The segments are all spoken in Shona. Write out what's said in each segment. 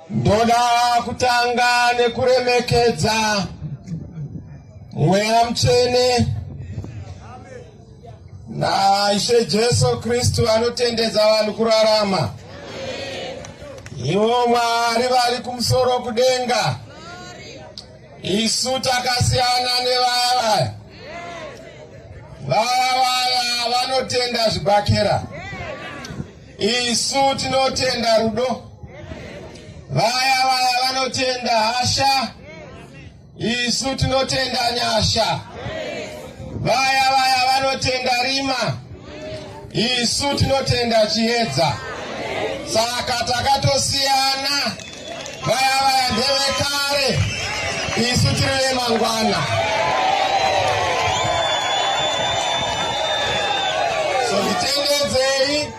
Ndoda kutanga nekuremekedza mweya mutsvene naishe Jesu Kristu anotendedza vanhu kurarama. Ivo Mwari vari kumusoro kudenga, isu takasiyana nevaya vaya vaya vanotenda zvibhakera. Isu tinotenda rudo, vaya vaya vanotenda hasha, isu tinotenda nyasha, vaya vaya vanotenda rima, isu tinotenda chiedza. Saka takatosiyana. Vaya vaya ndevekare, isu tiri vemangwana. So titendedzei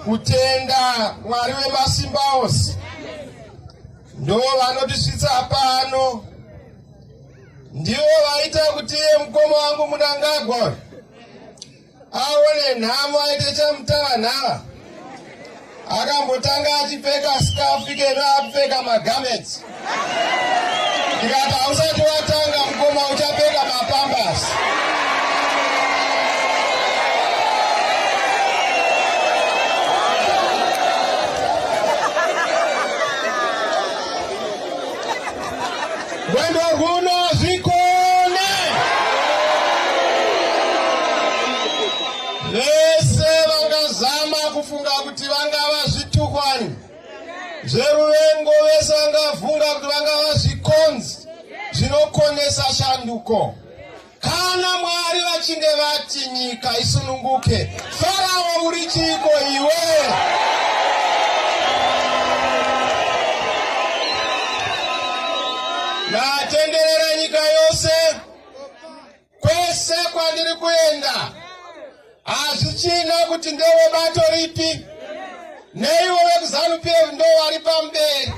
kutenda Mwari wemasimba ose ndo vanotisvitsa pano, ndivo vaita kuti iye mukoma wangu Munangagwa aone nhamo aite chamutavanhava akambotanga achipfeka skafu ikeno akupfeka magamets ndikati hausati watanga mukoma uchapfeka mapambas Mwendo kuno zvikone vese vangazama kufunga kuti vangava zvitukwani zveruvengo vese vangavunga kuti vangava zvikonzi zvinokonesa shanduko Kana Mwari vachinge vati nyika isununguke, Farao uri chiiko iwe? Ndatenderera nyika yose kwese kwandiri kuenda. hazvichina kuti ndewe bato ripi neivo vekuzanu pf ndo vari pamberi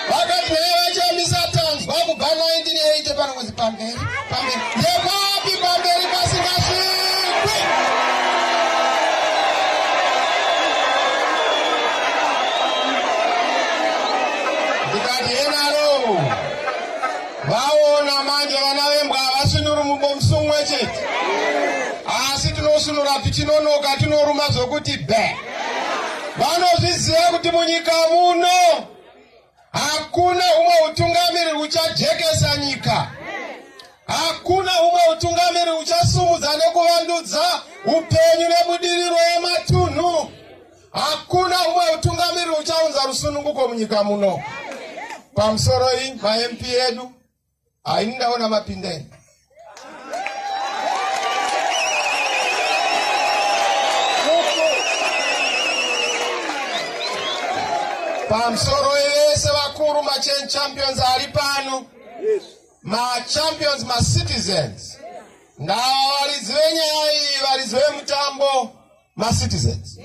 vakati naye vachiyamisa tanzwa kubva 1980 pano kuzi pamberi pamberi ndekwapi pamberi pasingasvikwi ndikati enaro Vaona manje vana vembwa havasunuri mubomsu umwe chete, asi tinosunura tichinonoka, tinoruma zvokuti be. Vanozviziva kuti munyika muno hakuna umwe utungamiri uchajekesa nyika, hakuna umwe utungamiri uchasumudza nekuvandudza upenyu nebudiriro yematunhu. Hakuna umwe utungamiri uchaunza rusununguko munyika muno. Pamusoro iyi maMP edu haini ndaona mapindeni. Pamusoro yese vakuru machan champions ari pano. Yes. Machampions macitizens. Yes. Now, Arizona, Arizona, Mutambo. macitizens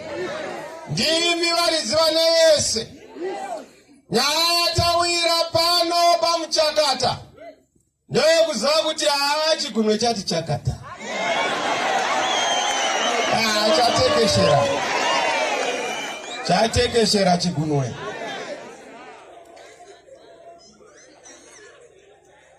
ndimi varidzi vane vese nyaya yatawira pano pamuchakata ndoyekuziva kuti haa chigunwe chati chakata ah, chatekeshera chatekeshera chigunwe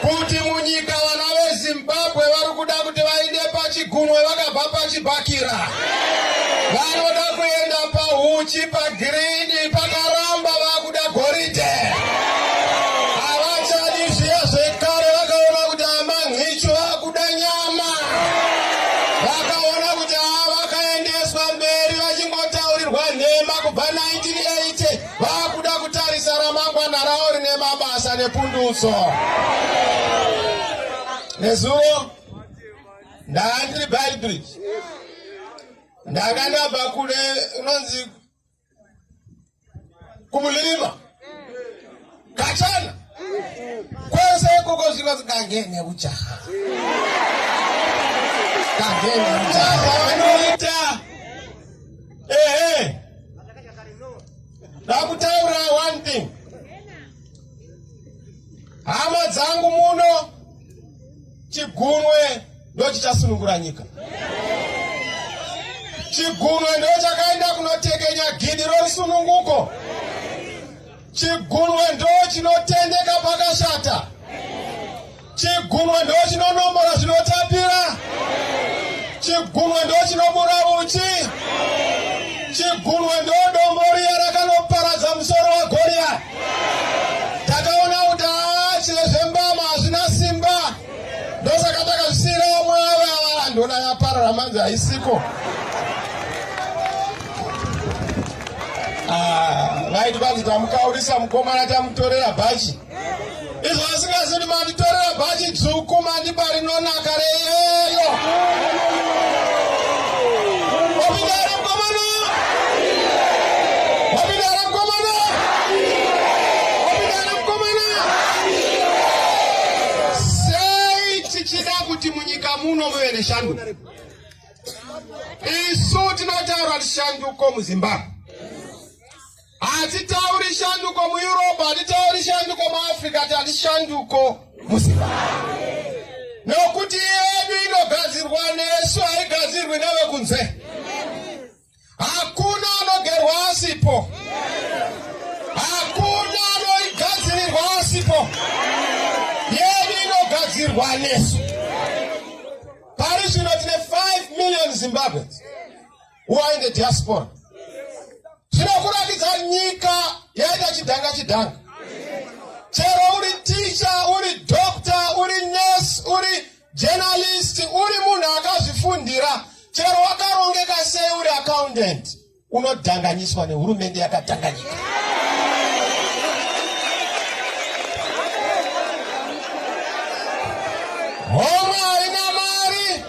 kuti munyika vana vezimbabwe vari kuda kuti vaende pachigunwe vakabva pachibhakira vanoda kuenda pahuchi pagirini pakaramba vakuda goridhe havachadi zviya zvekare vakaona kuti amanhicho vakuda nyama vakaona kuti ava vakaendeswa mberi vachingotaurirwa nhema kubva 1980 Vakuda kutarisa ramangwana ravo rine mabasa nepundutso. Nezuro ndanga ndiri Beitbridge, ndanga ndabva kule unonzi kumulirima Kachana. Kwese koko zviro zikangene ujaha. Kangene ujaha vanoita. Ehe. Ndakutaura one thing. Hama dzangu muno chigunwe ndochichasunungura nyika. Chigunwe ndochakaenda kunotekenya gidi rorusununguko. Chigunwe ndo chinotendeka pakashata. Chigunwe ndo chinonombora zvinotapira. Chigunwe ndo chinobura uchi. Chigunwe ndo dombo riya rakanoparadza musoro waGoriya. Takaona kuti haa chezvembama hazvina simba. ndosaka takazvisiyira vamwe vava ndona yaparara manzi haisiko ah, vaiti vanzi tamukaurisa mukomana tamutorera bhachi izvo vasingazidi manditorera bhachi dzvuku mandiba rinonaka reyeyo Sei tichida kuti munyika muno muve neshanduko? Isu tinotaura shanduko muZimbabwe. Hatitauri shanduko muEurope, hatitauri shanduko muAfrica, tati shanduko muZimbabwe. Nokuti yedu inogadzirwa nesu haigadzirwi nevekunze. Hakuna anogerwa asipo. Hakuna anoigadzirirwa asipo. Yedu inogadzirwa nesu. Pari zvino tine 5 million Zimbabweans who are in the diaspora. Zvinokuratidza nyika yaita chidhanga chidhanga. Chero uri teacher, uri doctor, uri nurse, uri Journalist uri munhu akazvifundira chero wakarongeka sei uri accountant unodhanganyiswa nehurumende yakadhanganyika homwe haina mari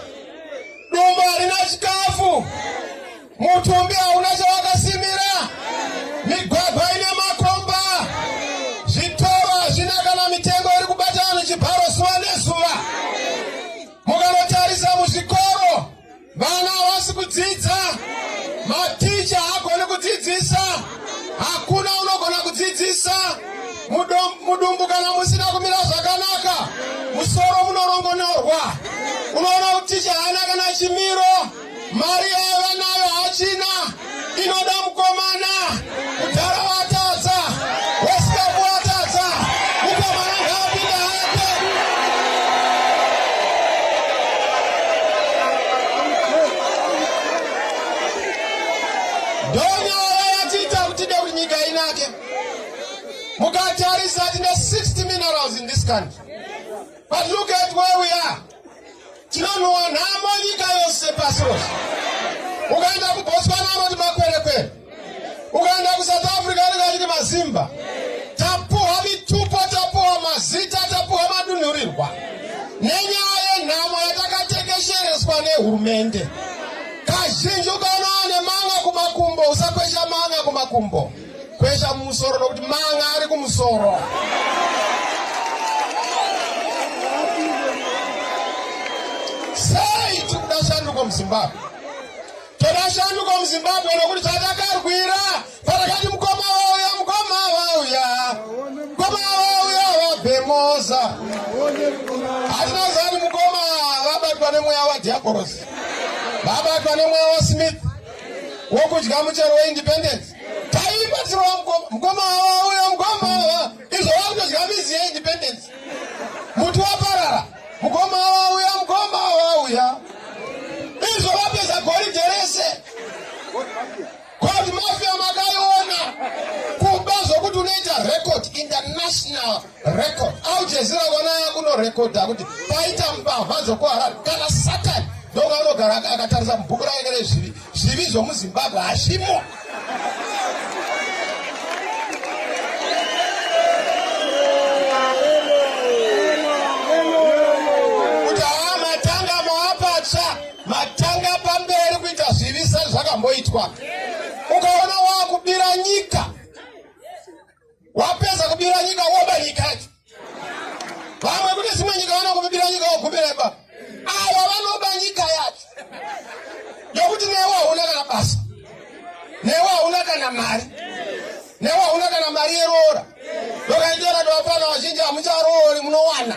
dumbu harina chikafu Mutumbi hauna chawakasimira, migwagwa ine makomba, zvitoro hazvina kana mitengo iri kubata vanhu chibharo zuva nezuva. Mukanotarisa muzvikoro, vana havasi kudzidza, maticha haagoni kudzidzisa, hakuna unogona kudzidzisa. Mudumbu kana musina kumira zvakanaka, musoro munorongonorwa. Unoona kuti ticha haana kana chimiro. mari yaiva nayo hachina inoda mukomana mudhara watadza wesikapu watadza mukomana ngaapinda hake ndonyaya yatiita kutide kuti nyika inake mukatarisa tine 60 minerals in this country but look at where we are Tinonhuwa nhamo nyika yose pasi rose. Ukaenda kuBotswana anoti makwerekwere. Ukaenda kuSouth Africa anenge achiti mazimba. Tapuhwa mitupo, tapuhwa mazita, tapuhwa madunhurirwa nenyaya yenhamo yatakatekeshereswa nehurumende. Kazhinji ukaona ane manga kumakumbo, usakwesha manga kumakumbo. Kwesha mumusoro nokuti manga ari kumusoro. Sei tiri kuda shanduko muZimbabwe? Toda shanduko muZimbabwe nokuti chatakarwira patakati mukoma wauya mukoma wauya mukoma wauya wabhemoza hatina zani mukoma vabatwa nemweya wadhiabhorosi vabatwa nemweya wasmith wokudya muchero weindependence taibatsirwa mukoma mukoma wawa uyo mukoma wawa izvo vakutodya mizi yeindependence muti waparara mukoma wawa uya mukoma wawa uya izvo vapedza goridhe rese koti mafia makaiona kuba zvokuti unoita record international record au jezira wanaya kuno record akuti paita mbavha dzokuharari kana satani ndonga anogara akatarisa mubhuku rake rezvivi zvivi zvomuzimbabwe hazvimo kuti haa matanga maapatsva matanga pamberi kuita zvivi sezvakamboitwa ukaona waakubira nyika wapedza kubira nyika woba nyika yacho vamwe kune dzimwe nyika vanokubira nyika wogumira ipapo ava vanoba nyika yacho yokuti newe hauna kana basa newe hauna kana mari newe hauna kana mari yeroora ndokaitera tovapana vazhinji hamucharoori munowana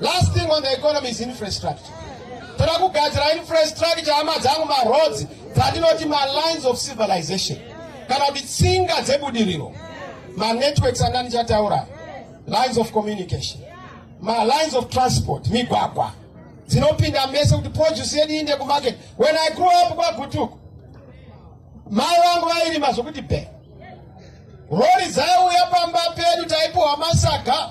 Last thing on the economy is infrastructure. Toda kugadzira infrastructure hama dzangu maroads dzandinoti malines of civilization kana kuti tsinga dzebudiriro manetworks anga ndichataura lines of communication malines of transport migwagwa dzinopinda mese kuti produce yedu iinde kumarket when i grew up kwagutuku mai vangu vairima zvokuti be rori dzaiuya pamba pedu taipiwa masaga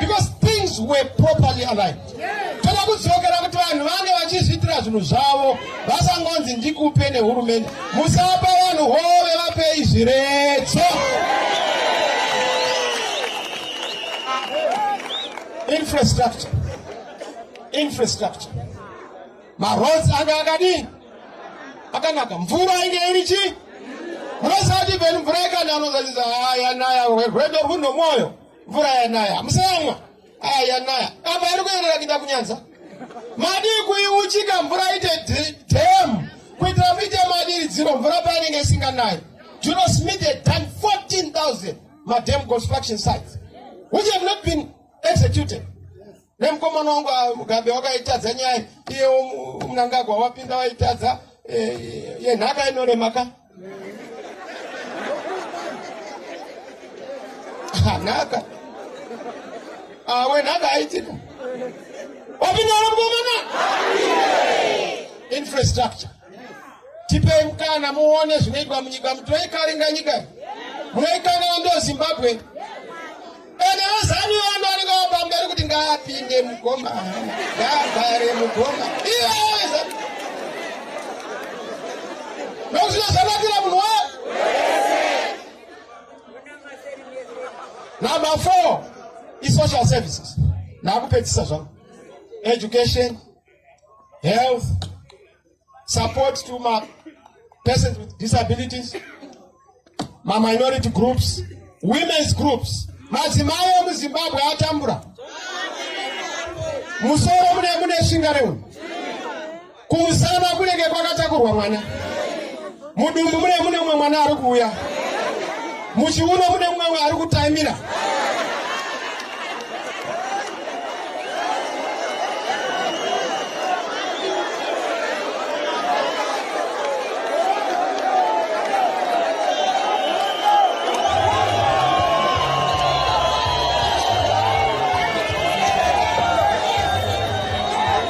because things were properly aligned toda kudzokera kuti vanhu vange vachizviitira zvinhu zvavo vasangonzi ndikupe nehurumende musapa vanhu hove vapei zviredzo infrastructure infrastructure maroads anga akadii akanaka mvura inge iri chii munosati venu mvura ikananozazizahaya naya rwedo rwunomwoyo mvura yanaya hamusayamwa aya yanaya apa iri kuenera kuita kunyanza madii kuiuchika mvura ite dam kuitira muite madiridziro mvura painenge isinganayi juno smith had done 14000 madam construction sites which have not been executed nemukomana wangu ah, mugambe wakaitadza nyaya iyewo munangagwa wapinda waitadza eh, yenhaka inorema ka ah, nhaka ah, wenhaka aitika wapinda ro mukomana infrastructure tipei mukana muone zvinoitwa munyika mutoikaringa nyika munoikanana ndo zimbabwe Ene wezanu wanu anenge wapamberi kuti ngaapinde mugoma ngaagare mugoma iweza nokuti zvakanakira munhu wa number four isocial services naakupedzisa zvangu education health support to ma persons with disabilities ma minority groups women's groups madzimai emuzimbabwe atambura musoro mune mune shinga reunhu kumusana kunenge kwakatakurwa mwana Mudumbu mune mune mumwe mwana ari kuuya. Muchiuno mune mumwe ari kutaimira.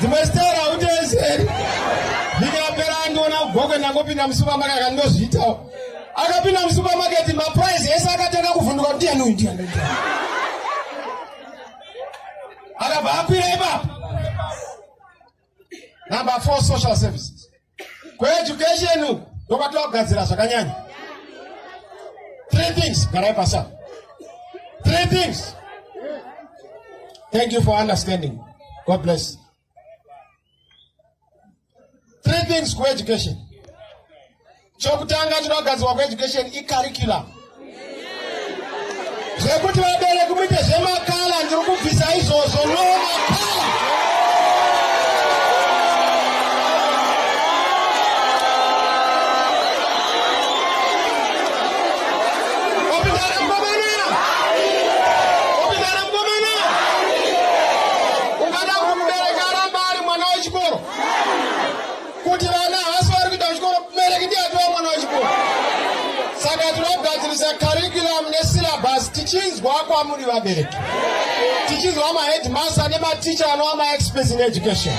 dzimwe stera utezeri ndikapera andiona kugogo ndangopinda musupermarket akandozviitawo akapinda musupermarket maprice ese akatanga kuvhunduka kuti ndiani uyu ndiani akabva akwira ipapo number four social services kueducation uku ndokwatova kugadzira zvakanyanya three things garai pasa three things thank you for understanding god bless three things kueducation chokutanga chinogadzirwa kueducation icurriculum zvekuti vabereki muite zvemakala ndiri kubvisa izvozvo no makala opindana mukomana opindana mukomana ungada kumubereka aramba ari mwana wechikoro kuti vana havasi vari kuita chikoro mubereki ndiye atova mwana wechikoro saka tinogadzirisa curriculum nesyllabus tichinzwa kwamuri vabereki tichinzwa maheadmaster nematicha anova maexperts in education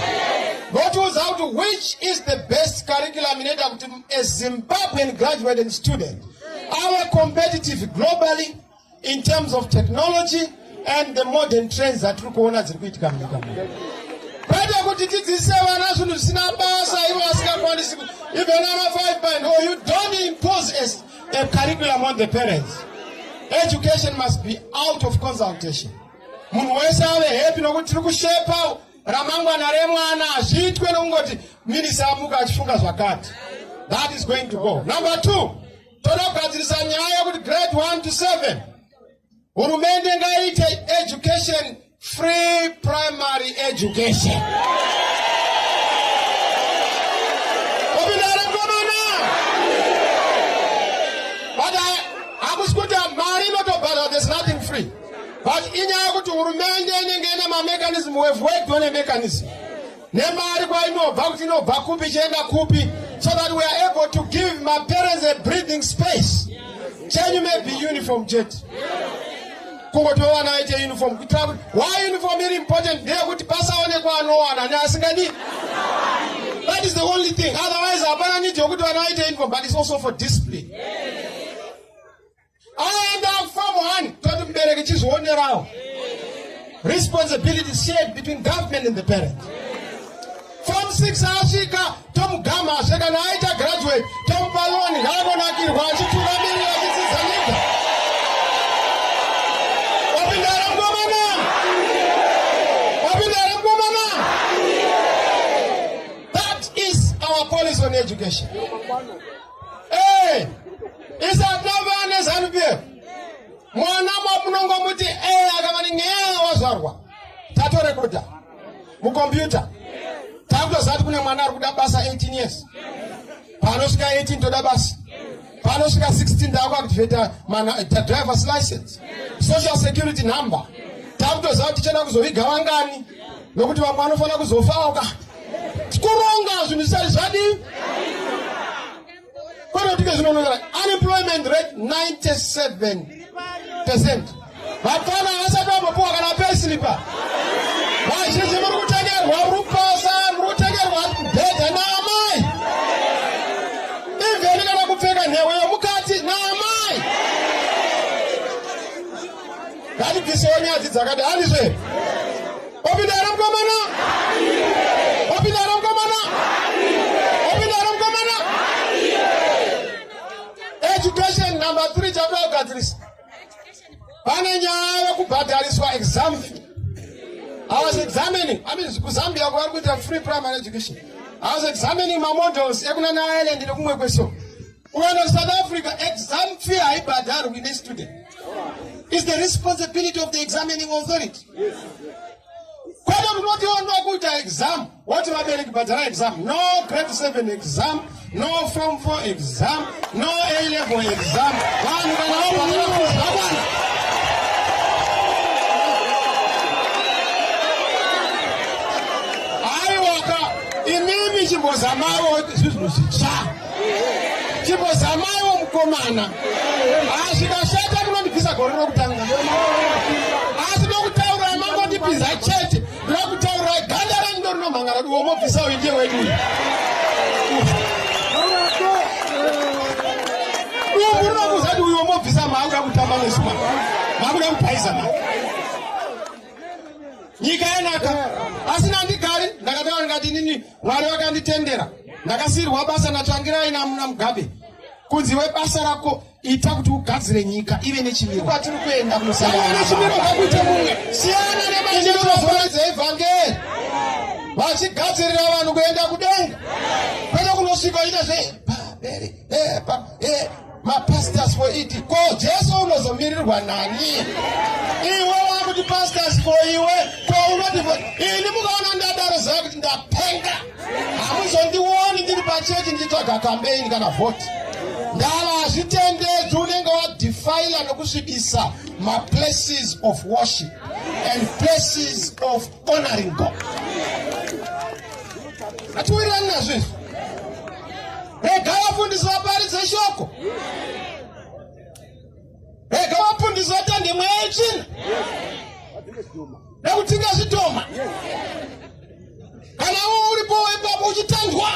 votiudza kuti which is the best curriculum inoita kuti a zimbabwean graduated student ave competitive globally in terms of technology and the modern trends dzatiri kuona dziri kuitika munyika muno kwete kuti tidzidzise vana zvinhu zvisina basa ivo vasingakwanisi even ana five band or you don't impose as a curriculum on the parents education must be out of consultation munhu wese ave happy nokuti tiri kushepa ramangwana remwana hazviitwe nokungoti minisa amuka achifunga zvakati that is going to go number two Tonogadzirisa nyaya yekuti grade 1 to 7 hurumende ngaite education free primary education. but inyaya yekuti hurumende inenge ine mamechanism we've worked on a mechanism nemari kwainobva kuti inobva kupi ichienda kupi so that we are able to give my parents a breathing space chenyu maybe uniform chete kungotowana vaite uniform kuitira kuti why uniform iri important ndeyekuti pasaonekwa anowana neasingadi that is the only thing otherwise hapana need yokuti vana vaite uniform but it's also for discipline yeah. aenda kufamu hani toti mubereki chizvionerawo responsibility shared between government and the parent form 6 asvika tomugama asve kana aita graduate tomupa loni ngaanonakirwa achitungamirira achidzidza nyika wapindara mkomana wapindara mkomana that is our policy on education mukombiyuta takutoziva kuti kune mwana ari kuda basa 18 years panosvika 18 toda basa panosvika 16 taakuaktivata drivers license social security number takutoziva kuti tichada kuzoviga vangani nokuti vamwe vanofanira kuzofaoka kuronga zvinhu zvisati zvadii kwete kuti zvinonongera unemployment rate 97 percent vapfana vasati vambopuwa kana pesilipa vazhinji muri kutengerwa rupasa muri kutengerwa bhedha naamai ivheni kana kupfeka nhewe yomukati naamai ngatibvisewo nyadzi dzakati handizve opinda here mukomana opinda here mukomana opinda here mukomana education number three chakuda kugadzirisa pane nyaya yekubhadhariswa exam i was examining i mean kuzambia kwavari kuita free primary education i was examining mamodels ekunana ireland nekumwe kweso Ukaenda South Africa, exam fee haibhadharwi nestudent. It's the responsibility of the examining authority. Kwete kunoti wanga kuita exam, woti vabereki bhadhara exam. No grade 7 exam, no form 4 exam, no A level exam. Vanhu kana wabhadhara kuzvakwana. Imimi chimbozamawo zvinhu zvitsva. chimbozamaiwo mukomana azvikashata ah, munondibvisa gore rokutanga asi nokutaura mangondipinza chete ndokutaura ganda renyu ndorinomhangara diwo mobvisa uyu ndiye wedu uyu dumbu rinokuza kuti uyo mobvisa maakuda kutamba nesuma maakuda kupaiza ma nyika yanaka asi nandigari ndakataura ndikati inini Mwari vakanditendera ndakasiyirwa basa natsvangirai namuna mugabe kunzi webasa rako ita kuti ugadzire nyika ive nechimiro kwatiri kuenda kunosanganaechimiro kakuite mumwe siyana nemaeeozoredza evhangeri vachigadzirira vanhu kuenda kudenga kwete kunosvika ita zve eh, pa, eh, mapastors for it ko jesu unozomirirwa nani iwe wakuti pastors for iwe ko unoti ini mukaona ndadaro zaa kuti ndapenga hamuzondioni ndiri pachechi ndichitsvaga kambeini kana vhoti ndava hazvitendedzi unenge wadefila nokusvibisa maplaces of worship and places of honoring God. Hatiwirirani nazvo izvi. Rega vafundisi vaparidze shoko. Rega vafundisi vatande mweya yetsvina. Nekutinga zvitoma. Kana uwo uripo wepapo uchitandwa.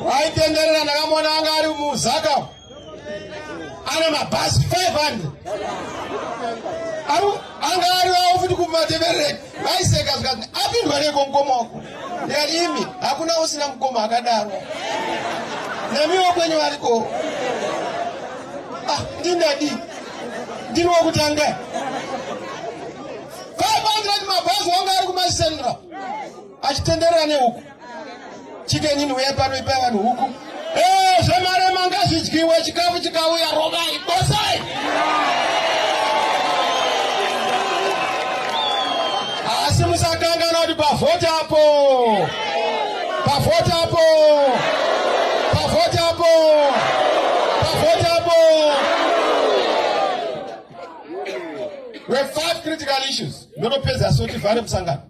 Waitenderera ndakamona anga ari muzaka. ana mabhazi 500 anga ariwawo futi kumateverere vaiseka zvikati apindwa neko mukoma wako ndikati imi hakuna usina mukoma akadaro namiwo kwenyu variko ah, ndindadi ndini wokutanga 500 mabhazi wanga ari kumasendra achitenderera nehuku chikenyi ndiuya pano ipai vanhu huku ee eh, zvemarema ngazvidyiwe chikafu chikauya rovai bosai asi musakangana kuti pavhoti apo pavhoti apo pavhoti apo pavhoti apo we five critical issues ndotopedza sotivhare musangano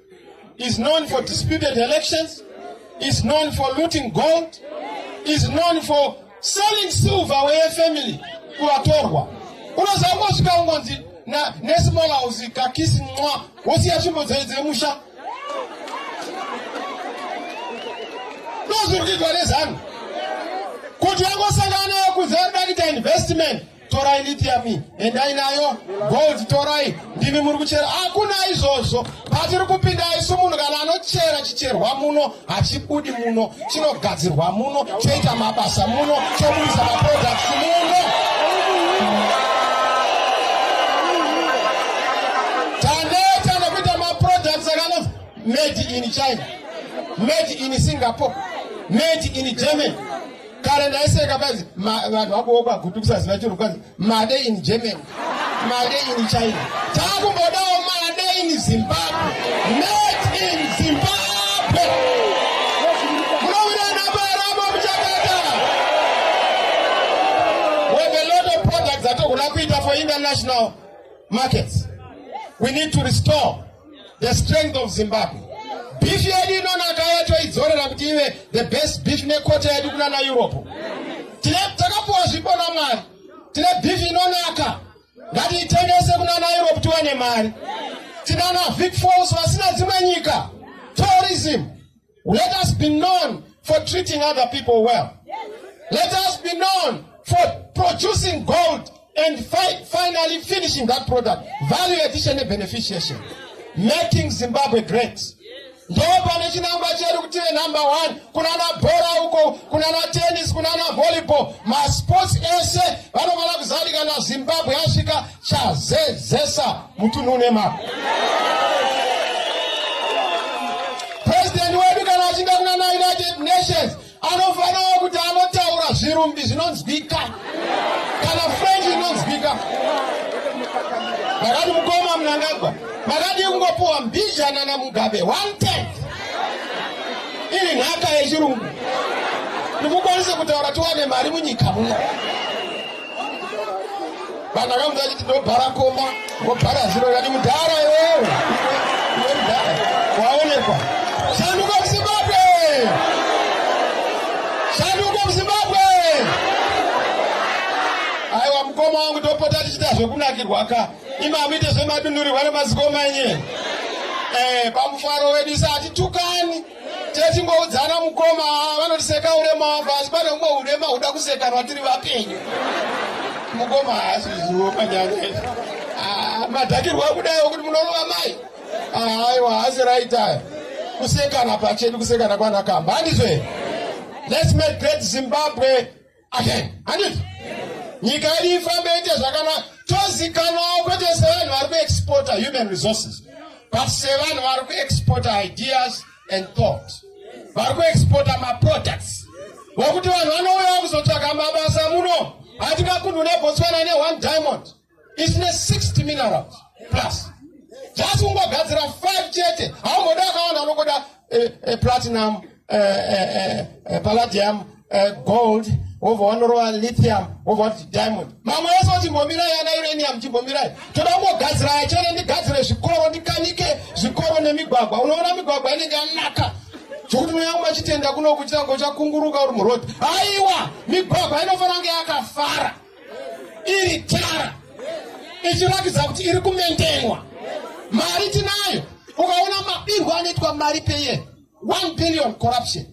is known for disputed elections, is known for looting gold, is known for selling silver where family kuvatorwa unoziva kosvika ungonzi nesmall house kakisi mwa wosiya tsvimbo dzei dziri musha ndozviri kuitwa nezanu kuti vangosangana nayo kuzarida kuita investment torai lithium endai nayo gold torai ndimi muri kuchera hakuna izvozvo patiri kupinda isu munhu kana anochera chicherwa muno hachibudi muno chinogadzirwa muno choita mabasa muno chobudisa maproducts muno taneta nekuita maproducts akano made in china made in singapore made in germany kare ndaiseka kwanzi vanhu vakuwo kwagutukisa zina chiro kwanzi made in germany made in china takumbodawo made in zimbabwe made in zimbabwe munovirana paramo muchakata with a lot of products atokuda kuita for international markets we need to restore the strength of zimbabwe beef yedu inonaka yatoidzorera kuti ive the best beef nekota yedu kuna na europe tine takapuwa zvipo namwari tine beef inonaka ngatiitengese kuna na europe tiwane mari tinana vic falls vasina dzimwe nyika tourism Let us be known for treating other people well. Let us be known for producing gold and fi finally finishing that product. Value addition and beneficiation. Making Zimbabwe great. Ndoo pane chinangwa chedu kuti ive number one. Kunana bhora uko, kunana tennis, kunana volleyball. Masports ese vanofanira kuzadikana Zimbabwe yasvika chazezesa mutunhu une mari president wedu kana achinda kunana united nations anofanira kuti anotaura zvirumbi zvinonzwika kana french inonzwika makati mukoma munangagwa makati kungopuwa mbijana namugabe one ten iri nhaka yechirungu ndikukwanisa kutaura tiwane mari munyika muno vanhu akamudza achiti ndobhara komba wobhara ziro kati mudhara iwewe iwe mudhara waonekwa shanduka muzimbabwe shanduka muzimbabwe aiwa mukoma wangu topota tichiita zvekunakirwa ka imi amuite zvemadunhurirwa nemazikoma enye eh, pamufaro wedu isa hatitukani techingoudzana mukoma vanotiseka urema wako asi pane umwe urema huda kusekanwa tiri vapenyu mukoma haasi zvizivo panyanya ah, madhakirwa kudai wekuti munorova mai ah, aiwa haasi raitaya kusekana pachedu kusekana kwanakamba handizve let's make great zimbabwe amen handiti nyika yedu ifambe ite zvakanaka tozikanwawo kwete sevanhu vari kuexporta human resources but sevanhu vari kuexporta ideas and thought vari kuexporta maproducts vokuti vanhu vanouyawo kuzotsvaga mabasa muno hatingakunhu nebotswana ne one diamond It's ne 60 minerals plus. Just ungogadzira 5 chete. Haumboda akawanda unokoda eh, eh, platinum, eh, eh, eh, eh palladium, eh, gold, wobva wanorova lithium, wobva wati diamond. Mamwe ese kuti mbomirai ana uranium chimbomirai. Toda kungogadzira yachene ndigadzire zvikoro ndikanike zvikoro nemigwagwa. Unoona migwagwa inenge yanaka. zvokuti mweya wangu achitenda kuno kuchitanga uchakunguruka uri murodhi aiwa migwagwa inofanira kunge yakafara iri tara ichiratidza kuti iri kumendenwa mari tinayo ukaona mabirwo anoitwa mari peye 1 billion corruption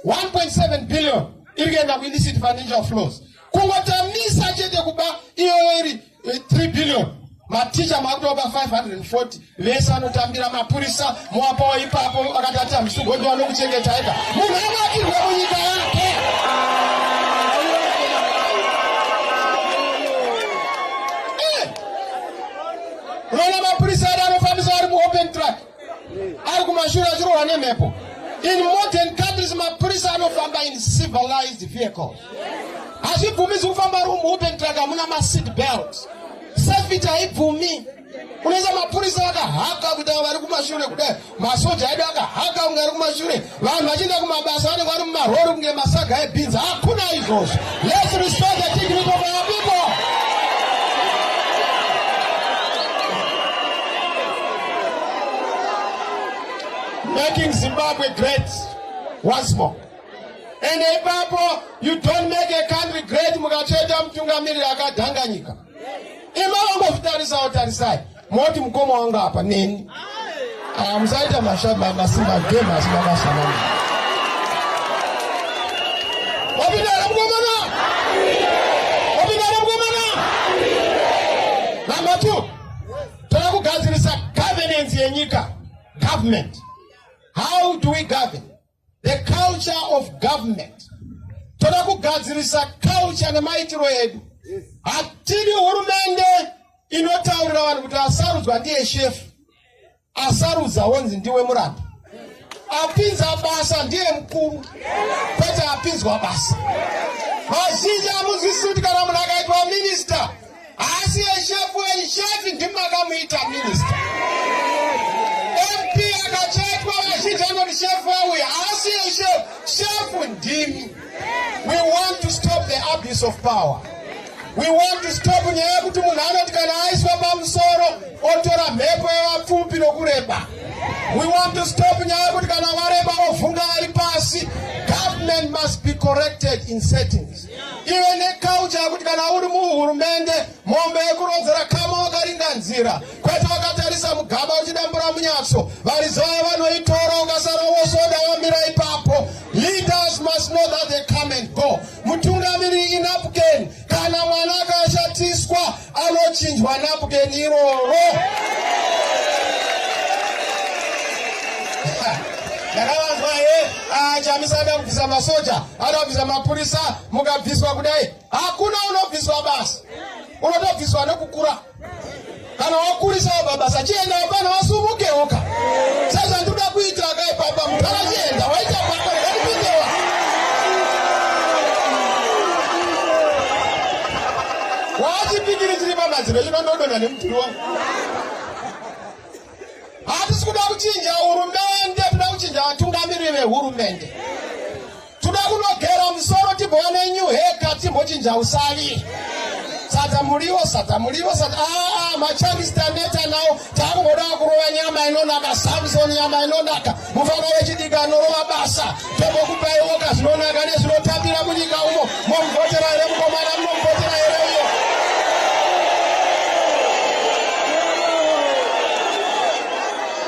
1.7 billion iri kuenda kuillicit financial flows kungotamisa chete kuba iyoyo iri 3 eh, billion maticha makutopa 540 vese anotambira mapurisa moapawo ipapo vakatati hamisugondiwa nokuchengetai ka munhu avakirwe munyika yake eh! rona mapurisa ari anofambisa ari muopen track ari kumashure achirohwa nemhepo in modern countries mapurisa anofamba in civilized vehicles hazvibvumizi kufamba ari muopen track hamuna maseat belt Safety haibvumi. Unoisa mapurisa vakahaka kuti avo vari kumashure kudai masoja edu akahaka kunge ari kumashure vanhu vachienda kumabasa vanenge vari mumarori kunge masaga ebhinzi hakuna izvozvo let's restore the dignity of our people making zimbabwe great once more and ipapo you don't make a country great mukacheta mutungamiriri akadhanganyika ima wangozvitarisawo tarisai moti mukoma wangu apa neni aya musaita masimba game asi makasanana wapindara mukomana wapindara mukomana number two toda kugadzirisa governance yenyika government how do we govern The culture of government. Toda kugadzirisa culture nemaitiro edu. Hatidi hurumende inotaurira vanhu kuti asarudzwa ndiye shefu. Asarudza wonzi ndiwe muranda. Apinza basa ndiye mkuru. Kwete apinzwa basa. Vazhinji amunzwisisi kuti kana munhu akaitwa minister Asi eshefu eshefi ndimakamuita minista. MP akachetwa vazhinji anoti shefu auya asi eshefu shefu ndimi. We want to stop the abuse of power. We want to stop nyaya yekuti munhu anoti kana aiswa pamusoro otora mhepo yevapfupi nokureba. We want to stop nyaya yekuti kana vareba ovhunga vari pasi. Government must be corrected in settings. ive nekaucha yekuti kana uri muhurumende mombe yekurodzera kama wakaringa nzira kwete wakatarisa mugaba uchidambura munyatso varizaya vanoitora ukasara wosoda wamira ipapo leaders must know that they come and go mutungamiri inapken kana mwana akashatiswa anochinjwa napken iroro ndakavanzwa he ah, chamisa ada kubvisa masoja ada kubvisa mapurisa mukabviswa kudai hakuna unobviswa basa unotobviswa nekukura kana wakurisa wababasa chienda wapana wasumukewoka sezvandikuda kuita akaipapa mutara chienda waita papa Wachipikiri chiri pamadziro chino ndodonha nemudhuri wangu. Hatisi kuda kuchinja hurumende, toda kuchinja vatungamiriri vehurumende. Toda kunogera musoro tibone new haircut timbochinja usavi. Sadza muriwo, sadza muriwo, sadza ah, ah machangistaneta nawo takungoda kurova nyama inonaka, Samson nyama inonaka. mufana wechidiki anorova basa tombokupaiwoka zvinonaka nezvinotambira munyika umo momuvhotera here mukomana munomuvhotera here uyo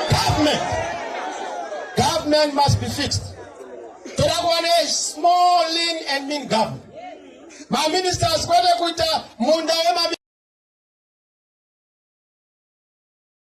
government government must be fixed toda kuva ne small lean and mean government maministers kwete kuita munda wema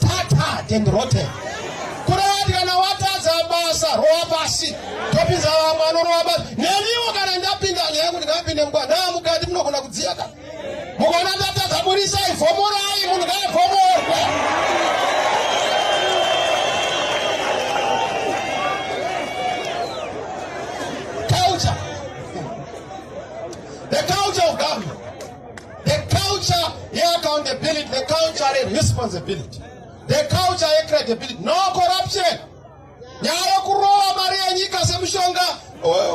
tatad and rotten kurati kana watadza basa rowa pasi topinza vamwe anorowa basi neniwo kana ndapinda nyaya yekuti ngapinde mukwa naa mukati munogona kudziya ka mukona tatadza burisai vhomorai munhu ngaavhomorwe The culture yeaccountability, the culture yeresponsibility, the culture yecredibility, no corruption. Nyaya yokurova mari yenyika semushonga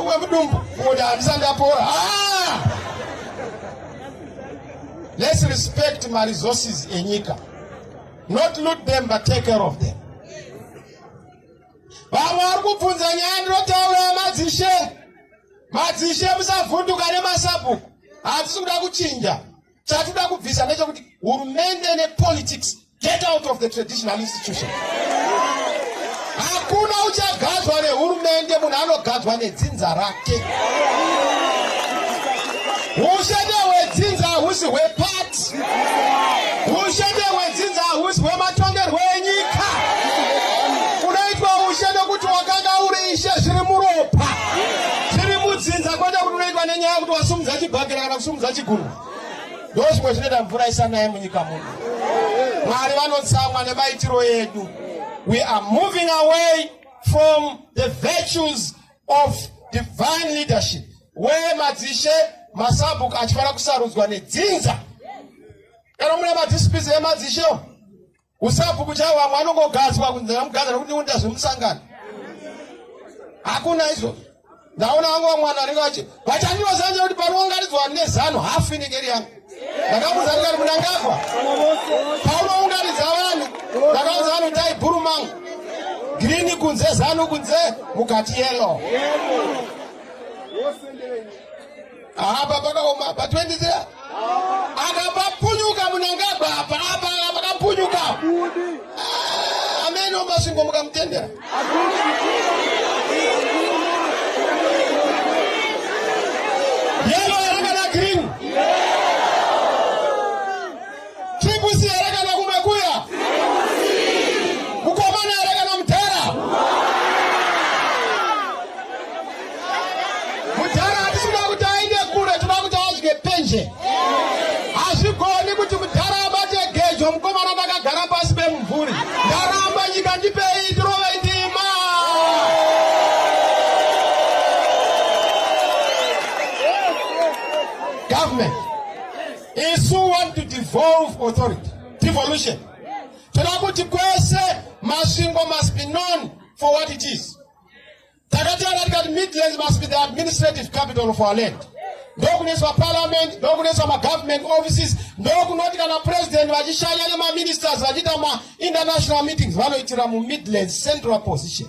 wemudumbu kuti handisa ndapora. Ah! Let's respect my resources enyika. Not loot them but take care of them. Vamwe vari kubvunza nyaya ndinotaura yamadzishe. Madzishe musavhunduka nemasabhuku. hatisi kuda kuchinja chatida kubvisa ndechekuti hurumende nepolitics get out of the traditional institution hakuna uchagadzwa nehurumende munhu anogadzwa nedzinza rake ushete hwedzinza hahusi hwepati ushete hwedzinza hahusi hwematongerwo enyika Tiri mudzinza kwete kuti unoitwa nenyaya kuti wasumudza chibhakera kana kusumudza chigumbu. Ndozvimwe zvinoita mvura isanaye munyika muno. Mwari vanotsamwa nemaitiro edu. We are moving away from the virtues of divine leadership where madzishe masabhuku achifanira kusarudzwa nedzinza kana mune madzisipizi emadzishewo Kusabhuku chavo vamwe anongogadzwa kunzi namugadzwa nokuti ndiunda zvemusangano. Hakuna izvozvo. Ndaona vangu vamwe vanhu vanenge vachi vachanyoza nje kuti panoungaridzwa nezano hafu inenge iri yangu. Ndakamuudza ndikati munangagwa. Paunoungaridza vanhu ndakaudza vanhu dai bhuru mangu. Girini kunze zano kunze mukati yellow. Apa pakaoma apa 23 akapapunyuka munangagwa apa apa pakapunyuka ah, amene omasvingo mukamutendera Triple here kana kumakuya? Mukomana here kana mudhara? Mudhara hatisi kuti aende kure, tinoda kuti adye penje. Hazvigoni kuti mudhara abate gejo mukomana ndakagara pasi pemumvuri. Ndaramba nyika ndipei tirove ndima. Government. isu want to devolve authority devolution toda kuti kwese masvingo must be known for what it is takataura tikati midlands must be the administrative capital of our land ndokunoiswa parliament ndokunoiswa magovernment offices ndokunoti kana president vachishanya nemaministers vachiita mainternational meetings vanoitira mumidlands central position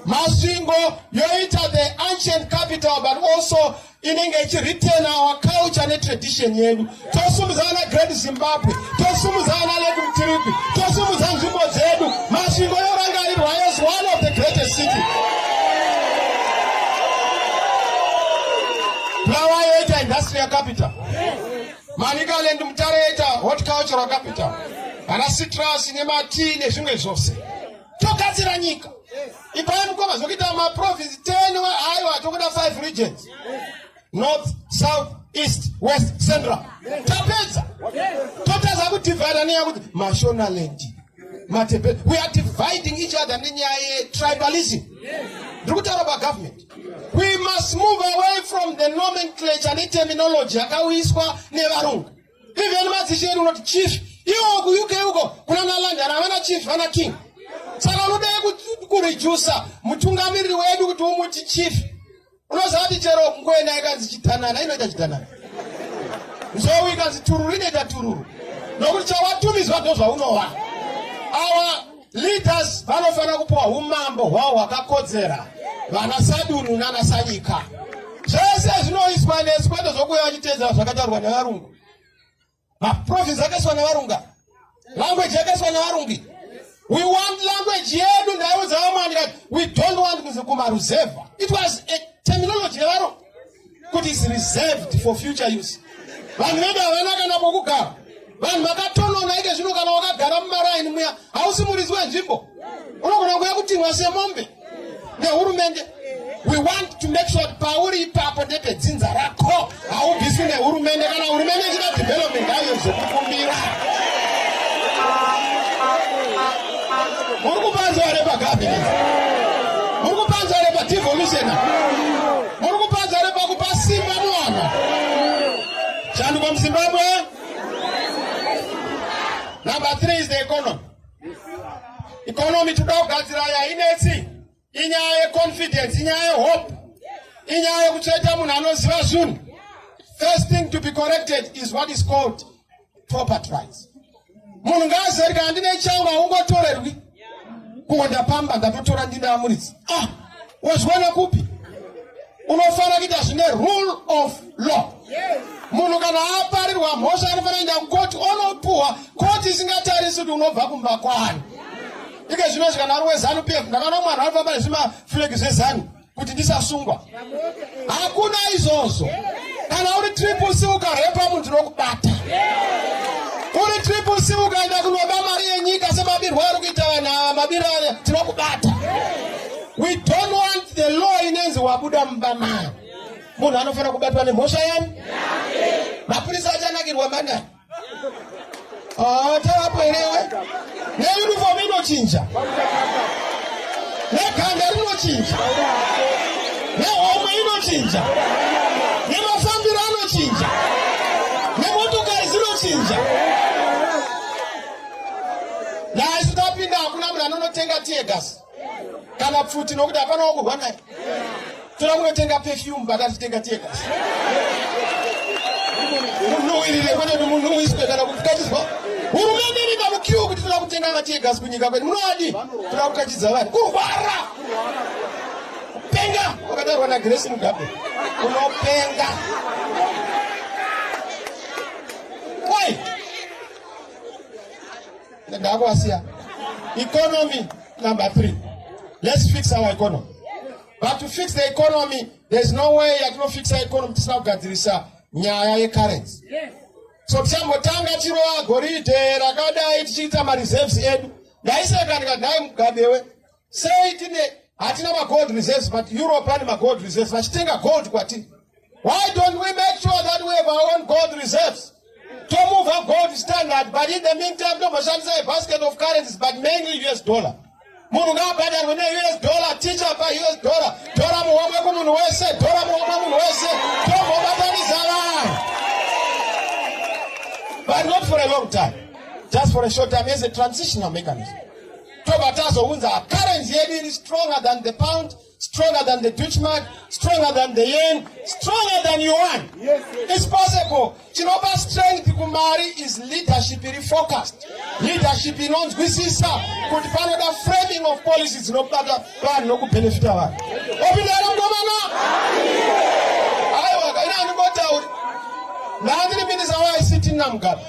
masvingo yoita the ancient capital but also inenge ichiretain our culture netradition yedu tosumudza vana great zimbabwe tosumudza vana lake mtiripi tosumudza nzvimbo dzedu masvingo yorangarirwa as one of the greatest city bulawa yoita industrial capital manicaland mutare yoita hot cultural capital vana citrus nematii nezvimwe zvose togadzira nyika ipai mukoma zvekuita maprovince 10 aiwa tokuda 5 regions north south east west central tapedza totadza kudivhida nenyaya kuti mashonaland matepe we are dividing each other nenyaya yetribalism ndiri kutaura pagovernment we must move away from the nomenclature neterminology yakauyiswa nevarungu even madzishe edu unoti chief iwo kuuk uko kuna nalandana havana chief vana king saka unodai kurejusa mutungamiriri wedu kuti umuti chief unoziva kuti chero kungoenda ikanzi chitanana inoita chitanana nzou ikanzi tururu inoita tururu nokuti chawatumidzwa ndozvaunova awa Leaders vanofanira kupiwa humambo hwavo hwakakodzera, vana sadunhu nana sanyika. Zvese zvinoiswa nesu kwete zvokuya vachiteedzera zvakataurwa nevarungu. Maprovince akaiswa nevarunga, language yakaiswa nevarungi. We want language yedu ndaiudza vamwani kati we don't want kumaruzevha. It was a terminology yevarungu. kuti is reserved for future use vanhu vedu havana kana pokugara vanhu vakatonona ike zvino kana wakagara mumaraini muya hausi muridzi wenzvimbo unogona kuya kutimwa semombe nehurumende we want to make sure pauri ipapo ndepedzinza rako haubviswi nehurumende kana hurumende ichida development haiyo zvekukumbira muri kupanzwa repagabinet muri kupanzwa repadevolution Muri kupadza here pakupa simba muwana? Shanduko muZimbabwe. Number three is the economy. Economy toda kugadzira yainetsi inyaya yeconfidence, inyaya yehope, inyaya yekutsveta munhu anoziva zvinhu. First thing to be corrected is what is called property rights munhu ngaazive kuti handine changu haungotorerwi kungo ndapamba ndatotora ndine amuridzi ah wazviwana kupi unofanira kuita zvine rule of law munhu kana aparirwa mhosva anofanira kuenda kukoti onopuhwa koti isingatarisi kuti unobva kumba kwani ike zvino zvikanaro wezanu pf ndakaona mwana anofamba nezvimaflegi zvezanu kuti ndisasungwa hakuna izvozvo kana uri triple c ukarepa munhu tinokubata uri triple c ukaenda kunoba mari yenyika semabirwo ari kuita vanhu ava mabiro aya tinokubata we don't want the law inenzi wabuda mumba maya munhu anofanira kubatwa nemhosva yani mapurisa achanakirwa mangani Ah, tavapo irewe neuniform inochinja neganda rinochinja nehomwe inochinja nemafambiro anochinja nemotokari dzinochinja naisu tapinda hakuna munhu anonotenga tiegas kana pfuti nokuti hapana wakurwa naye toda kunotenga perfume pakatitenga tega munhu uirire kwete kuti munhu uiswe kana kukachizwa hurumende iri pamukiwo kuti toda kutenga vatiegas kunyika kwedu munoadi toda kukachidza vanhu kurwara kupenga wakadarwa nagresi mugabe unopenga Ndakasiya. Economy number three. Let's fix our economy. But to fix the economy, there's no way yatinofixa economy tisina kugadzirisa nyaya yecurrency. Yes. So tichambotanga chirowa goridhe rakadai tichiita mareserves edu. Ndaiseka ndikadai mugabewe Sei tine hatina magold reserves but Europe ane magold reserves vachitenga gold kwatiri. Why don't we make sure that we have our own gold reserves? To move our gold standard but in the meantime tomboshandisa a basket of currencies but mainly US dollar. Munhu ngaabhadharwe ne US dollar teacher pa US dollar. Tora muhomwe kumunhu wese, tora muhomwe munhu wese. Tombobatanisa vanhu. But not for a long time. Just for a short time as a transitional mechanism. tobva tazounza currency yedu iri stronger than the pound stronger than the dutchmark stronger than the yen stronger than yuan yes, yes. is possible chinopa strength kumari is leadership iri focused leadership inonzwisisa kuti panoda framing of policy dzinobata vanhu nokubenefita vanhu opindana mukomana aiwa kaina andingotauri ndaandiri minisa waict namugabe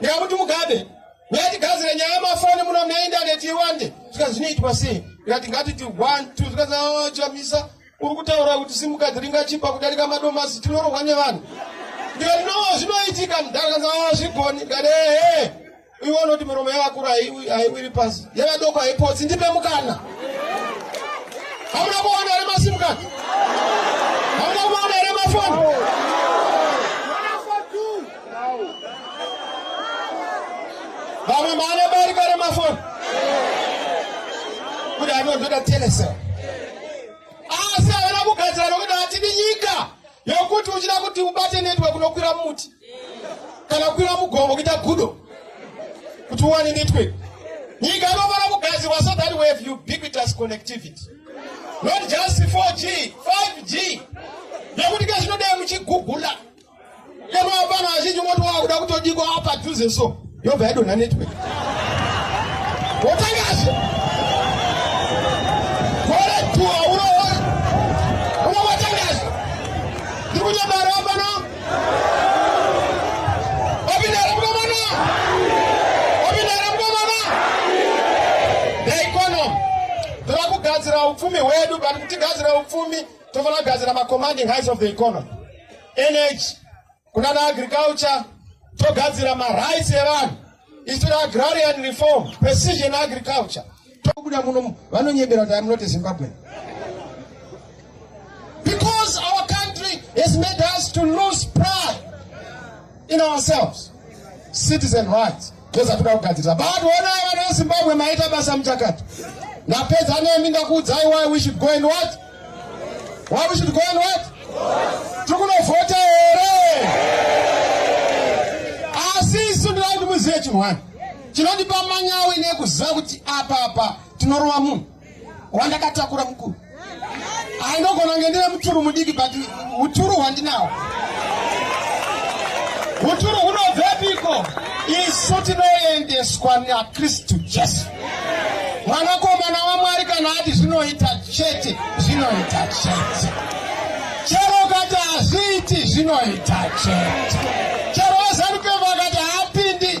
ndikakuti mugabe Yati gadzira nyaya mafoni muno mune indaneti iwande zvikanzi zvinoitwa sei ndikati ngatiti one two zvikanzi oh, chamisa uri kutaura kuti simukadzi ringachipa kudarika madomasi tinorohwa nevanhu ndikati no zvinoitika mudhara kanzi oh, zvigoni ndikati ehe iwe unoti miromo yavakuru haiwiri pasi yevadoko haipotsi ndipe mukana hamuna kuona here masimukadzi hamuna kuona here mafoni vamwe maane bariko remafoni kuti anozoda telesel asi havana kugadzira nokuti hatidi nyika yokuti uchida kuti ubate network unokwira muti kana kukwira mugomo kuita gudo kuti uwane network nyika inofanira kugadzirwa so that we have ubiquitous connectivity not just 4g 5g nekuti kezvinodei muchigugula Kama hapana wazhinji moti wakuda kutodiko apa dhuze so yobva yadonha network wotangashe gore tu hauna unowatangashe ndiri kunyamara apana wapindara mkomana wapindara mkomana daikono tava kugadzira upfumi hwedu but kutigadzira upfumi tofanira kugadzira macommanding heights of the economy energy kunana agriculture togadzira marights evanhu isu agrarian reform precision agriculture tokuda muno vanonyebera kuti am not a zimbabwean because our country has made us to lose pride in ourselves citizen rights toza toda kugadzirisa but honai vana vezimbabwe maita basa muchakati ndapedza nemi ndakuudzai why we should go and what why we should go and what tiri kunovhota here asi isu ndinaa kuti muzive chinhu wani chinondipa manyawi nekuziva kuti apapa tinorova munhu wandakatakura mukuru ainogona kunge ndine muturu mudiki but uturu hwandinawo uturu hunobvepiko isu tinoendeswa nakristu jesu mwanakomana wamwari kana ati zvinoita chete zvinoita chete chero kati hazviiti zvinoita chete chero vazanukevo vakati haapindi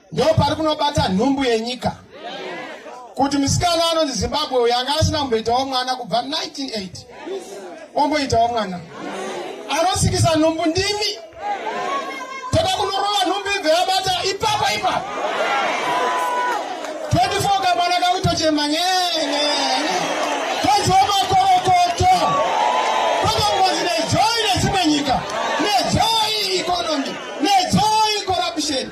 ndo pari kunobata nhumbu yenyika kuti musikana anonzi zimbabwe uyo anga asina kumboitawo mwana kubva 1980 omboitawo mwana anosikisa nhumbu ndimi toda kunorova nhumbu ibve yabata ipapo ipapo 24 kamwana kakutochema nyenyenye toziwa makorokoto tokangozi nezoi nedzimwe nyika nezoi economy nezoi corruption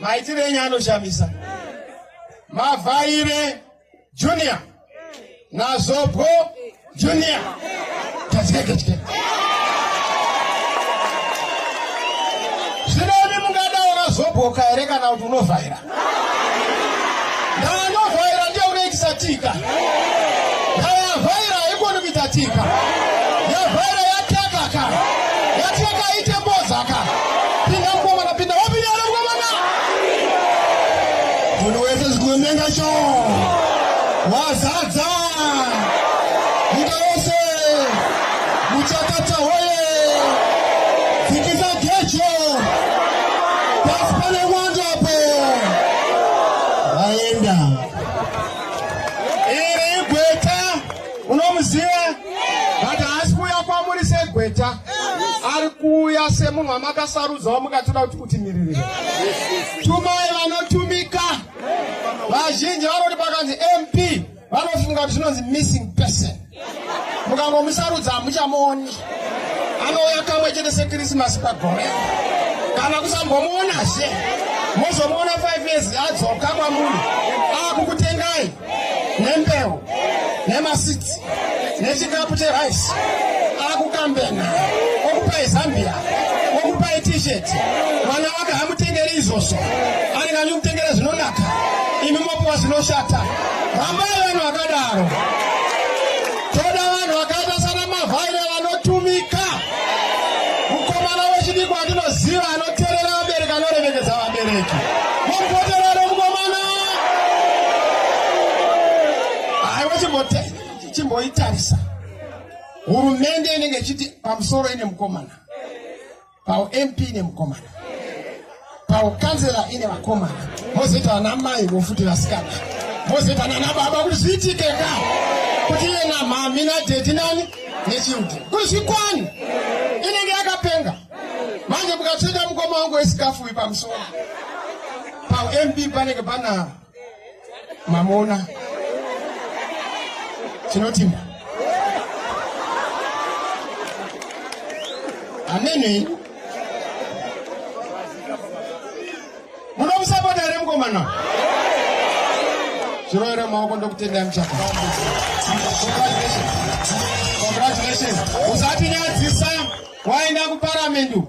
maitire enyu anoshamisa mavhaire junior nazobwo junior tazikekechike zvinemi mungadawo nazobwoka here kana kuti unovhaira ndaanovhaira ndiye unoitisa tika ndaavhaira haikoni kuita tika Pinda mkomana, pinda wapi nyara mkomana? Munhu wese zikumenga cho. Wazadza. Nyika yose. Muchakata hoye. Fikisa gecho. Pasi pane mwando apo. Aenda. munomuziva but haasi kuuya kwamuri segweta ari kuuya semunhu wamakasarudza wamukatoda kuti kutimiririra tumai vanotumika vazhinji vanoti pakanzi mp vanofunga kuti zvinonzi missing person mukangomusarudza hamuchamuoni anouya kamwe chete sekrisimasi pagore kana kusambomuonazve mozomuona 5 years adzoka kwamunhu akukutengai nembeu nemasitsi nechikapu cherice akukambena okupai zambia okupai t-shirt mwana wake hamutengeri izvozvo anenge anyi kutengera zvinonaka imi mopiwa zvinoshata rambai vanhu vakadaro Toda vanhu vakaita sana mavhaira vanotumika. Mukomana wechidiki wandinoziva anoterera vabereki anoremekedza vabereki. Mumboterera mukomana. Aiwa chimboitarisa. Hurumende inenge ichiti pamusoro ine mukomana. paump ine mukomana paukanzela ine vakomana mozoita vana mai vofuti vasikana mozoita nana baba kuti zviitike ka kuti iye namhami nadhedhi nani nechildren kuti zvikwani inenge yakapenga manje mukatsveta mukoma wangu wesikafu uyu pamusoro paump panenge pana mamona tinotinda amene munomusapota here mukomana zviroera maoko ndokutendai muchaka congratulations usatinyadzisa waenda kuparamendu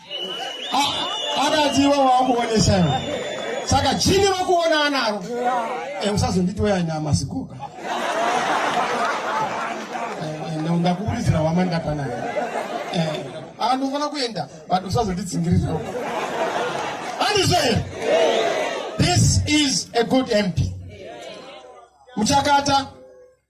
akati iwe wakuonesa iwe saka chini vakuona anaro eh, usazonditi weaina masikuka eh, eh, ndakuburidzira wama ndakanayo aa ndinofanira kuenda but usazonditsingiririra andizvo here this is a good mp muchakata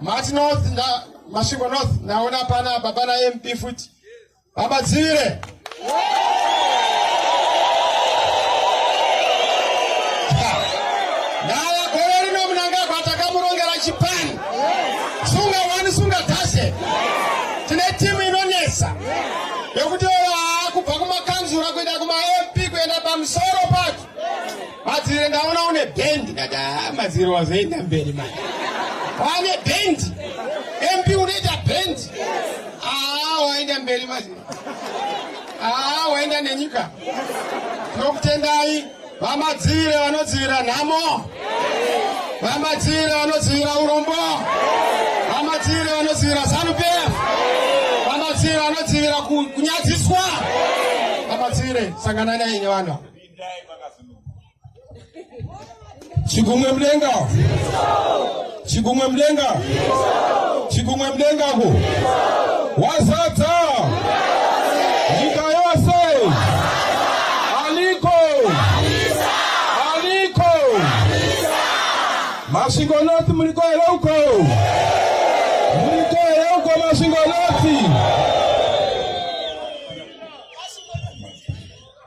mati north masvingo north ndaona pana baba namp futi baba dzivire ndaya gore rino munangagwa takamurongera chipani sunga wani sunga tashe tine timu inonetsa yekutevera kubva kumakanzura kuenda kumamp kuenda pamusoro pacho madzivire ndaona une bendi ndati haa madzivire wazoenda mberi mai wane bendi mp unoita bendi haa waenda mberi madzivire haa waenda nenyika tinokutendai Vamadzivire vanodzivira nhamo? Vamadzivire vanodzivira urombo? Vamadzivire vanodzivira Zanu PF? Vamadzivire vanodzivira kunyadziswa? Vamadzivire sangana nei nevanhu Chigumwe mudenga. Chikumwe mudenga. Chikumwe mudenga ku. Wazadza. Nyika yose. Aliko. Aliko. Masvingo North muliko here uko? Muliko here uko Masvingo North?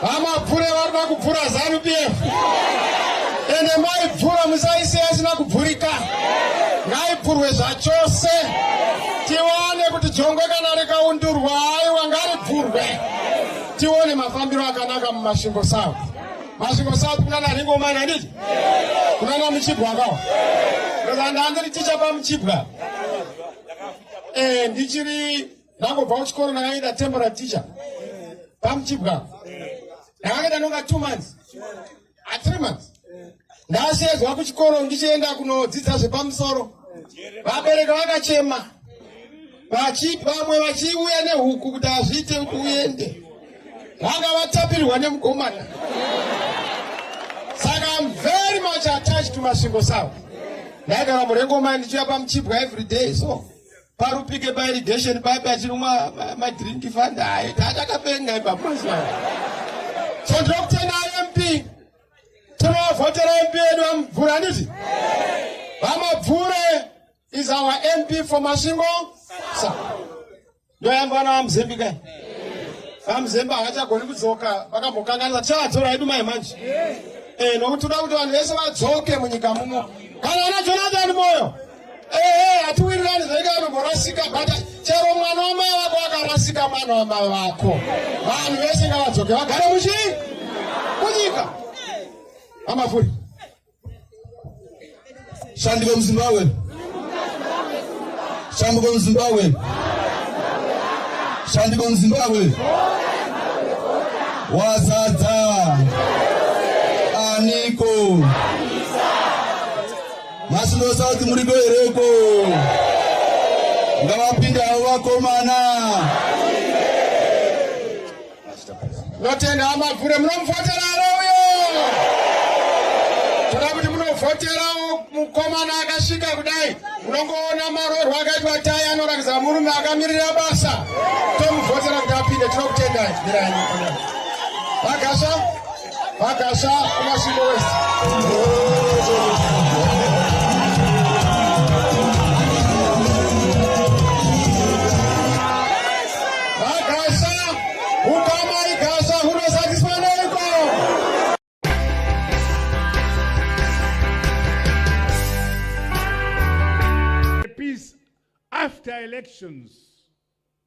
Hamapfure varikuda kupfura zanu PF ende maipfura musaisiya isina kubvurika, ngaipfurwe zvachose tiwane kuti jongwe kana rikaundurwa aiwa ngaripfurwe tione mafambiro akanaka mumasvingo south. Masvingo south kunana ringomani handiti kunana muchibwa akawa ndandiri tichapa muchibwa eh, ndichiri ndangobva kuchikoro ndakaita temporary teacher pamuchibwa ndakakaita nonga two months a ah, three months ndasheedzwa kuchikoro ndichienda kunodzidza zvepamusoro vabereka vakachema vamwe vachiuya nehuku kuti hazviite kuti uende vanga vatapirwa nemukomana saka am very much attached to masvingo savo ndaigara murengomai ndichiuya pamuchibwa every day so parupike pairigation papi achinwa madrink fanda haye taatakapenga ipaposa so ndokutenda imp tinovhotera mp yedu vamubvura handiti vamabvure is our mp for masvingo sa ndoyamba vana vamuzembi kai vamuzembi havachagoni kudzoka vakambokanganisa tichavatora yedu mai manje eh, nokuti toda kuti vanhu vese vadzoke munyika mumo kana ana jonathan moyo Ehe, hatiwirirani zvenga anomborasika but chero mwana wamai vako akarasika mwana wamai vako. Vanhu vese ngavadzoke vagare muchi kunyika. Amafuri. Shandiko muZimbabwe. Shandiko muZimbabwe. Shandiko muZimbabwe. Wazadza. Aniko. Aniko. Masvingo South muriko hereko ngavapinde havo vakomana notenda amabvure munomufotera arouyo toda kuti munovhoterawo mukomana akasvika kudai unongoona marorwa akaitwa tai anorakidza murume akamirira basa tomuvhotera kuti apinde tinokutendai mirai vagasva Vakasha kumasvingo wese. after elections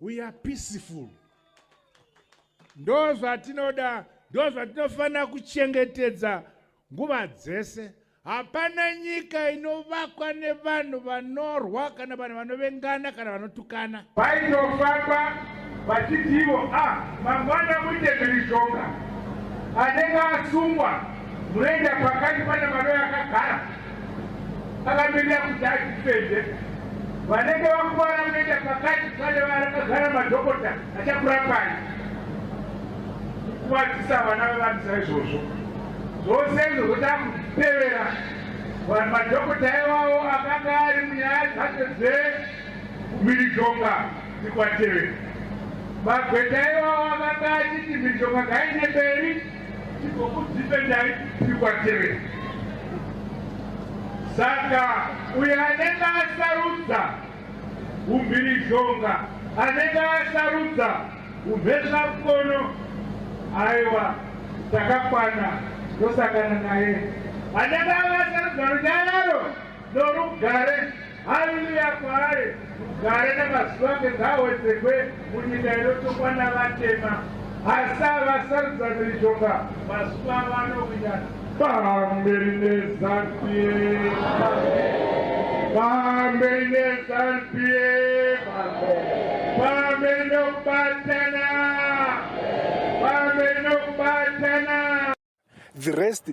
we are peaceful ndo zvatinoda ndo zvatinofanira kuchengetedza nguva dzese hapana nyika inovakwa nevanhu vanorwa kana vanhu vanovengana kana vanotukana vaitofamba vachitivo a ah, mangwana muite mhirizhonga anenge asungwa munoenda pakati pane mano yakagara akatoita kuti atifende vanenge vakuvara kuenda pakati pane varakagara madhokota achakurapai kukuvadzisa vana vevanhu saizvozvo zvose izvo zvoda kutevera vanhu madhokota iwawo akanga ari munyaya dzacho dzemhirizhonga dzikwatevera magweta iwawo akanga achiti mhirizhonga ngaine mberi Tigokudhifendai tiri kwaterera. Saka uyo anenge asarudza umhirizhonga, anenge asarudza umhezvakono, aiwa takakwana tosangana naye. Anenge akasarudza runyararo norugare. Haleluya kwaari gare nemazuva ake ngaawedzekwe munyika inotongwa navatema hasa vasarudza miritonga mazuva vanowinana pamberi nezanpie pamberi nezanpie pamberi nokubatana pamberi nokubatana the rest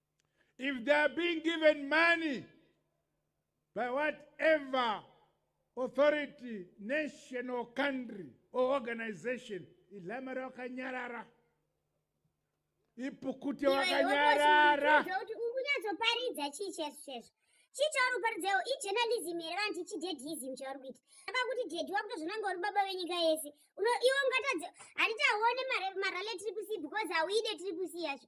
If they are being given money by whatever authority, nation or country or organization, ilamara wakanyarara. Ipukute wakanyarara. Ungunyatsoparidza chii chesu chesu. chii chauri kuparidzawo ijournalism here vanhu tichi deadism chauri kuita aba kuti dedi wakutozvonanga uri baba venyika yese iwe ungatadze handiti hauone marale triple c because hauide triple c yacho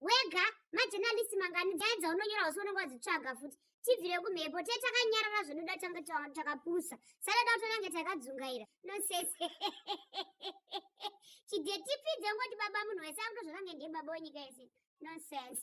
wega majenalisi mangani nyaya dzaunonyora usi unenge wadzitsvaga futi tibvire kumhepo te takanyarara zvinoda tange takapusa sadada utonange takadzungaira nosese chidetipidze ngoti baba munhu wese akuto zvakange ndiye baba wenyika yese nonsense